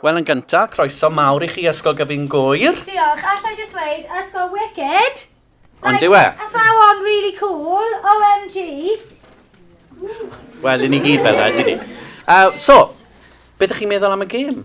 Wel yn gynta, croeso mawr i chi Ysgol Gyfun Gŵyr. Diolch, allai jyst weud, ysgol wicked! Ond yw e? Athrawon really cool, OMG! Wel, i ni gyd fel yna, ni. Uh, so, beth ydych chi'n meddwl am y gêm?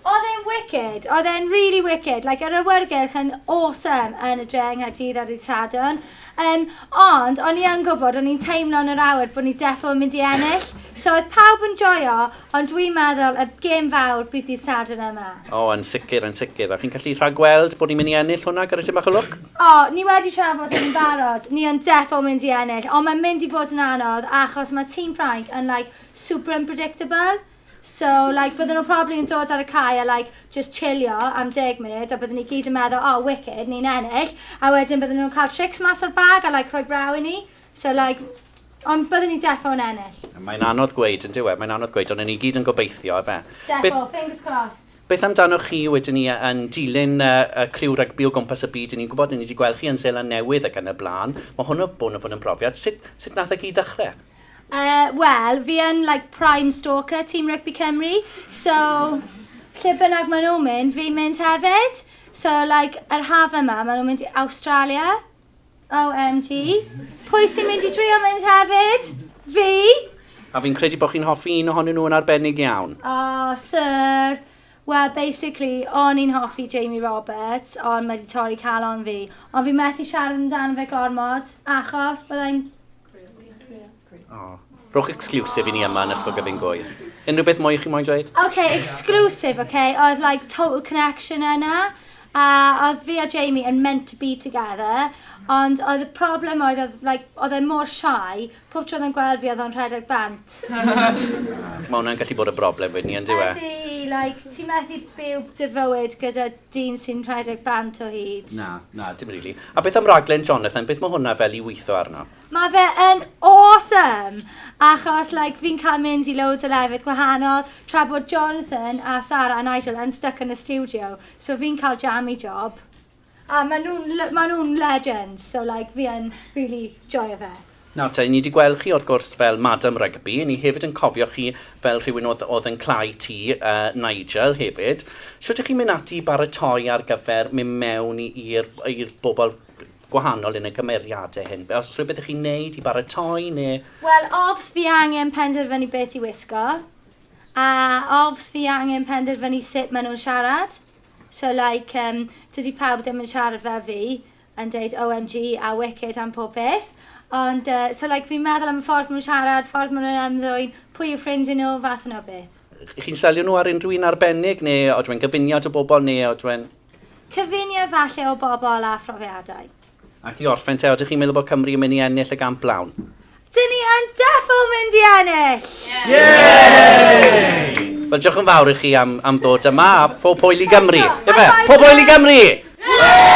Oedd e'n wicked, oedd e'n really wicked. Like, yr awyrgylch yn awesome yn y dre yng Nghaerdydd ar ddydd Sadwrn. Yym, ond o'n i yn gwybod, o'n i'n teimlo yn yr awyr bod ni defo yn mynd i ennill. So oedd pawb yn joio, ond dwi'n meddwl y gêm fawr bydd dydd Sadwrn yma. O, yn sicr, yn sicr. A chi'n gallu rhagweld bod ni'n mynd i ennill hwnna gyda tipyn bach o lwc? O, ni wedi trafod hyn yn barod. Ni yn defo mynd i ennill, ond mae'n mynd i fod yn anodd achos mae tîm Ffrainc yn like super unpredictable. So like bydden nhw probably yn dod ar y cae a like just chillio am deg munud a bydden ni gyd yn meddwl oh wicked ni'n ennill a wedyn bydden nhw'n cael tricks mas o'r bag a like rhoi braw i ni so like ond bydden ni defo yn ennill. Mae'n anodd gweud yn diwe, mae'n anodd gweud ond ni gyd yn gobeithio efe. Defo, fingers crossed. Beth amdanoch chi wedyn ni yn dilyn y, y criw rygbi o gwmpas y byd? Yn ni'n gwybod, yn ni wedi gweld chi yn Zeland Newydd ac yn y blaen. Mae hwn o bod yn fod yn brofiad. Sut, sut nath y gyd ddechrau? Yy, wel, fi yn like prime stalker Team Rugby Cymru, so lle bynnag maen nhw'n mynd, fi'n mynd hefyd. So like, yr haf yma, maen nhw'n mynd i Awstralia. OMG. Pwy sy'n mynd i drio mynd hefyd? Fi! A fi'n credu bod chi'n hoffi un ohonyn nhw yn arbennig iawn. Oh, sir! Wel, basically, o'n i'n hoffi Jamie Roberts, ond mae wedi torri calon fi. Ond fi methu siarad amdano fe gormod, achos byddai'n Oh. Rhowch exclusive i ni yma yn Ysgol Gyfyn Gwy. Unrhyw beth mwy i chi moyn dweud? OK, exclusive, OK. Oedd like total connection yna. A oedd fi a Jamie yn meant to be together. Ond oedd y problem oedd, oedd, like, oedd e mor shy, pob tro oedd yn gweld fi oedd o'n rhedeg bant. Mae hwnna'n gallu bod y broblem wedyn ni, yn dyw e? Ydy, like, ti'n methu byw dy fywyd gyda dyn sy'n rhedeg band o hyd. Na, na, dim rili. A beth am raglen Jonathan? Beth mae hwnna fel i weithio arno? Mae fe yn awesome! Achos, like, fi'n cael mynd i loads o lefydd gwahanol, tra bod Jonathan a Sarah a Nigel yn stuck yn y studio. So fi'n cael jammy job. A maen nhw'n maen nhw'n legends, so like, fi yn really joio fe. Nawr te, ni 'di gweld chi wrth gwrs fel Madam Rugby, ni hefyd yn cofio chi fel rhywun oedd oedd yn cl'au ti, yy, Nigel, hefyd. Shwt 'ych chi'n mynd ati i baratoi ar gyfer mynd mewn i i'r i'r bobl gwahanol yn y cymeriade hyn? Be- o's rhywbeth 'ych chi'n neud i baratoi ne'... Wel, of's fi angen penderfynu beth i wisgo, a of's fi angen penderfynu sut ma' nhw'n siarad, so like, yym, dydi pawb ddim yn siarad fel fi, yn deud OMG a wicked am pob peth. Ond yy so like fi'n meddwl am y ffordd ma' nhw'n siarad, ffordd ma' nhw'n ymddwyn, pwy yw ffrind i nhw, fath yna o beth. Ych chi'n selio nhw ar unrhyw un arbennig neu odw e'n gyfuniad o bobl neu odw e'n... Cyfuniad falle o bobl a phrofiadau. Ac i orffen te, odych chi'n meddwl bod Cymru yn mynd i ennill y gamp lawn? Dyn ni yn defo mynd i ennill! Yay! Wel, diolch yn fawr i chi am, am ddod yma, a phob hwyl i Gymru. Efe, pob hwyl i Gymru! Yay!